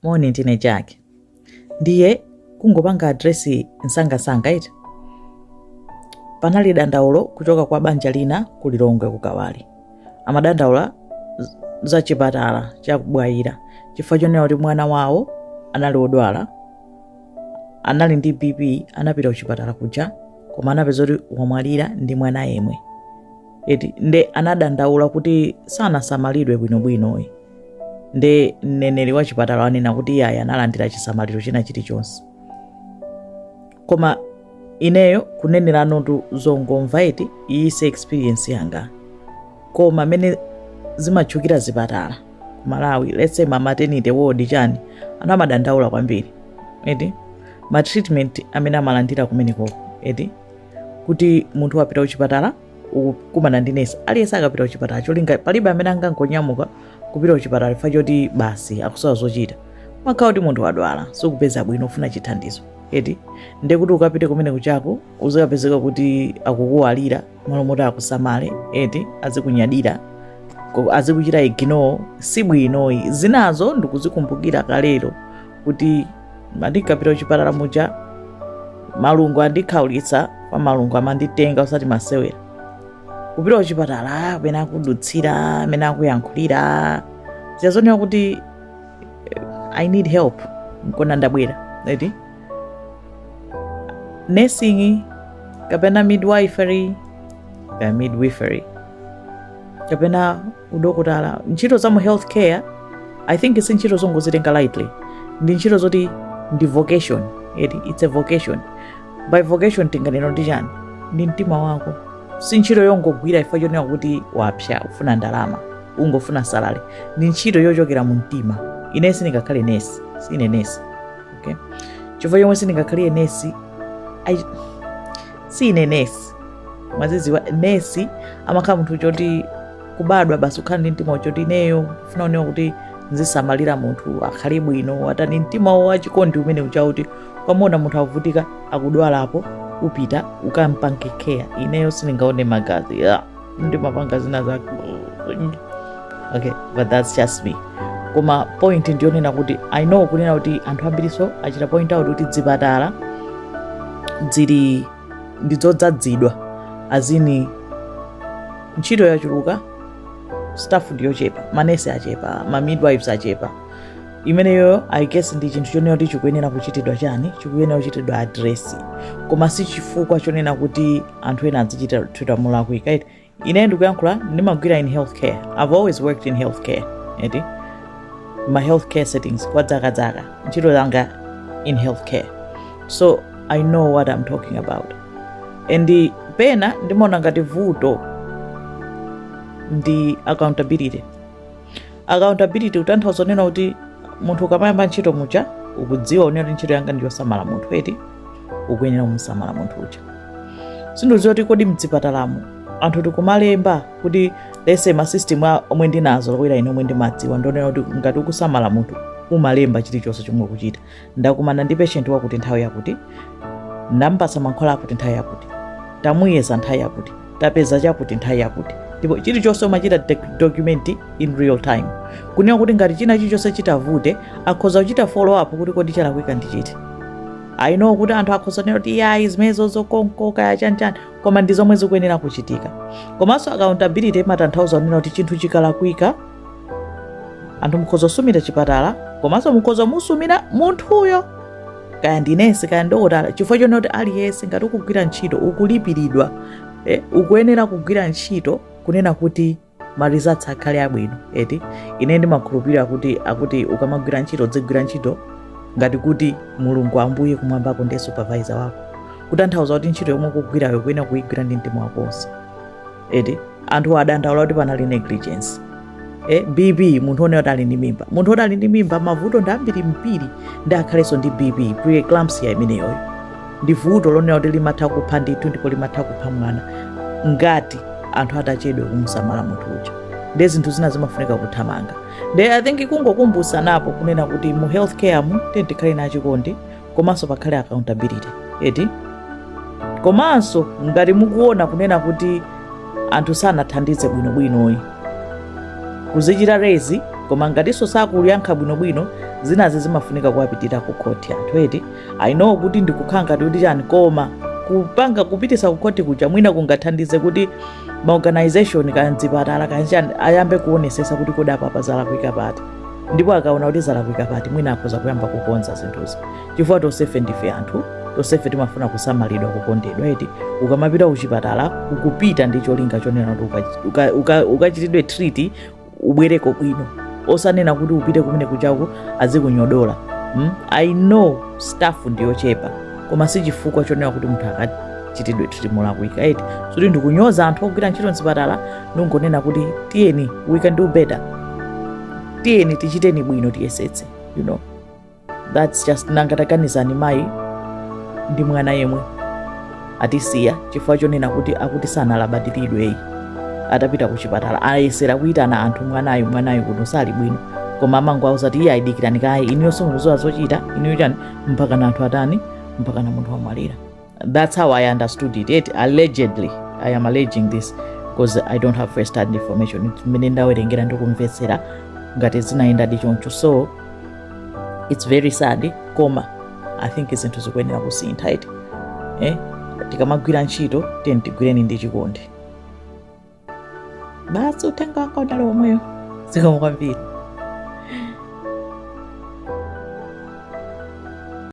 Moni ndine Jack. Ndiye kungopanga address msangamsanga eti? Panali dandaulo kuchoka kwa banja lina ku Lilongwe ku Kawali. Amadandaula z- za chipatala cha ku Bwaila chifukwa chonena kuti mwana wawo anali wodwala anali ndi bp anapita kuchipatala kuja koma anapeza kuti wamwalira ndi mwana yemwe eti nde anadandaula kuti sanasamalidwe bwinobwino iyayi nde mneneri wa chipatala anena kuti iyayi analandira chisamaliro china chilichonse koma ineyo kuneneratu zongomva eti iyi si experience yanga koma mmene zimatchukira zipatala ku malawi let's say ma maternity ward chani anthu amadandaula kwambiri eti ma treatment amene amalandira kumenekoko eti kuti munthu wapita kuchipatala ukukumana ndi nesi aliyense akamapita kuchipatala cholinga palibe amene angangonyamuka kupita kuchipatala chifukwa choti basi akusowa zochita mmakhala kuti munthu wadwala sukupeza bwino ufuna chithandizo eti ndekuti ukapite kumene kujako uzikapezeka kuti akukukalipira mmalo moti akusamale eti azikunyadira ko- azikuchita ignore si bwino ayi zinazo ndikuzikumbukira kalero kuti ndinkapita kuchipatala muja malungu andikhaulitsa paja malungu amanditenga osati masewera kupita kuchipatala mmene akudutsira mmene akuyankhulira ziyazonera kuti eh, i need help nchona ndabwera eti nursing kapena midwifery kapena midwifery kapena udokotala ntchito za mu health care i think si ntchito zongozitenga lightly ndi ntchito zoti ndi vocation eti it's a vocation by vocation tinganene ndi chani ndi mtima wako si ntchito yongogwira chifukwa chonena kuti wapsya ufuna ndalama ungofuna salary ndi ntchito yochokera mu mtima ine sindingakhale nesi sine nesi okay chifukwa chomwe sindingakhale nesi I- sine nesi ndimadzidziwa nesi amakhala munthu woti kubadwa basi ukhala ndi mtima woti ineyo ndikufuna kuona kuti ndizisamalira munthu akhale bwino atani mtima wo wachikondi umene uja kuti ukamuona munthu akuvutika akudwalapo upita ukampange care ineyo sindingaone magazi yeah. ndimapanga zinazake okay but that's just me koma point ndiyonena kuti i know kunena kuti anthu ambirinso achita point out kuti zipatala zili ndizodzadzidwa as in ntchito yachuluka staff ndiyochepa manesi achepa ma midwives achepa imeneyoyo i guess ndi chinthu chonena kuti chikuyenera kuchitidwa chani chikuyenera kuchitidwa address koma si chifukwa chonena kuti anthu ena azichitidwa molakwika eti ine ndikuyankhula ndimagwira in healthcare i've always worked in healthcare eti ma healthcare settings kwa dzaka dzaka ntchito yanga in healthcare so i know what i'm talking about and pena ndimaona ngati vuto ndi accountability accountability kutanthauza kunena kuti munthu ukamayamba ntchito muja ukudziwa kunena kuti ntchito yanga ndiyosamala munthu eti ukuyenera kumusamala munthu uja sindikudziwa kuti kodi mdzipatalamu anthu tikumalemba kuti chifukwa masystem omwe ndinazolowera ine omwe ndimadziwa ndi onena kuti ngati ukusamala munthu umalemba chilichonse chomwe ukuchita ndakumana ndi patient wakuti nthawi yakuti ndampatsa mankhwala akuti nthawi yakuti tamuyeza nthawi yakuti tapeza chakuti nthawi yakuti ndipo chilichonse umachita dec- document in real time kunena kuti ngati china chilichonse chitavuta akhoza kuchita follow up kuti kodi chalakwika ndi chiti i know kuti anthu akhoza kunena kuti yayi zimenezo zokonkoka ya chanichani koma ndi zomwe zikuyenera kuchitika komanso accountability imatanthauza kunena kuti chinthu chikalakwika anthu mukhoza kusumira chipatala komanso mukhoza kumusumira munthuyo kaya ndi nesi kaya ndi dokotala chifukwa chonena kuti aliyense ngati ukugwira ntchito ukulipiridwa eh, ukuyenera kugwira ntchito kunena kuti ma results akhale abwino eti ine ndimakhulupirira kuti ukamagwira ntchito udzigwira ntchito ngati kuti mulungu ambuye kumwambako ndi supervisor wako kutanthauza kuti ntchito yomwe ukugwirayo ukuyenera kuigwira ndi mtima wako wonse eti anthu adandaula kuti panali negligence eh, bp munthu onena kuti ali ndi mimba munthu oti ali ndi mimba mavuto ndi ambirimbiri nde akhalenso ndi bp preeclampsia imeneyoyo ndi vuto lonena kuti limatha kupha ndithu ndipo limatha kupha mwana ngati anthu atachedwa kumusamala munthu uja nde zinthu zina zimafunika kuthamanga nde i think kungokumbutsana po kunena kuti mu healthcare mu tikhale ndi chikondi komanso pakhale accountability eti komanso ngati mukuona kunena kuti anthu sanathandize bwinobwinoyi kuzichita raise koma ngatinso sakuyankha bwinobwino zinazi zimafunika kuwapitira ku khoti anthu eti i know kuti ndikukhala ngati kuti chani koma kupanga kupitisa ku khoti kuja mwina kungathandize kuti maorganization kaya zipatala kaya chani ayambe kuonesesa kuti kodi apa zalakwika pati ndipo akaona kuti zalakwika pati mwina akhoza kuyamba kukonza zinthuzi chifukwa tonsefe ndife anthu tonsefe timafuna kusamalidwa kukondedwa eti ukamapita kuchipatala ukupita ndi cholinga chonena kuti uka- uka- uka- ukachitidwe treat ubwereko bwino osanena kuti upite kumene kujako azikunyodola mm? i know staff ndiyochepa koma si chifukwa chonena kuti munthu akachitidwe treat molakwika eti sikuti ndikunyoza anthu ogwira ntchito mzipatala nungonena kuti tiyeni we can do better tiyeni tichiteni bwino tiyesetse you know that's just nanga taganizani mayi ndi mwana yemwe atisiya chifukwa chonena kuti akuti sanalabadiridweyi atapita ku chipatala ayesera kuyitana anthu mwanayo mwanayo kuno sali bwino koma amangowauza kuti iye ayi dikirani kaye inuyonso mukuziwa zochita inuyo chani mpakana anthu atani mpakana munthu wamwalira That's how I understood it. Yet allegedly, I am alleging this because I don't have first hand information. Mmene ndawerengera ndikumvetsera ngati zinayendadi choncho. So it's very sad koma I think zinthu zikuyenera kusintha eti. Eh? Tikamagwira ntchito tiyeni tigwireni ndi chikondi. Basi uthenga wanga udali omweyo. Zikomo kwambiri.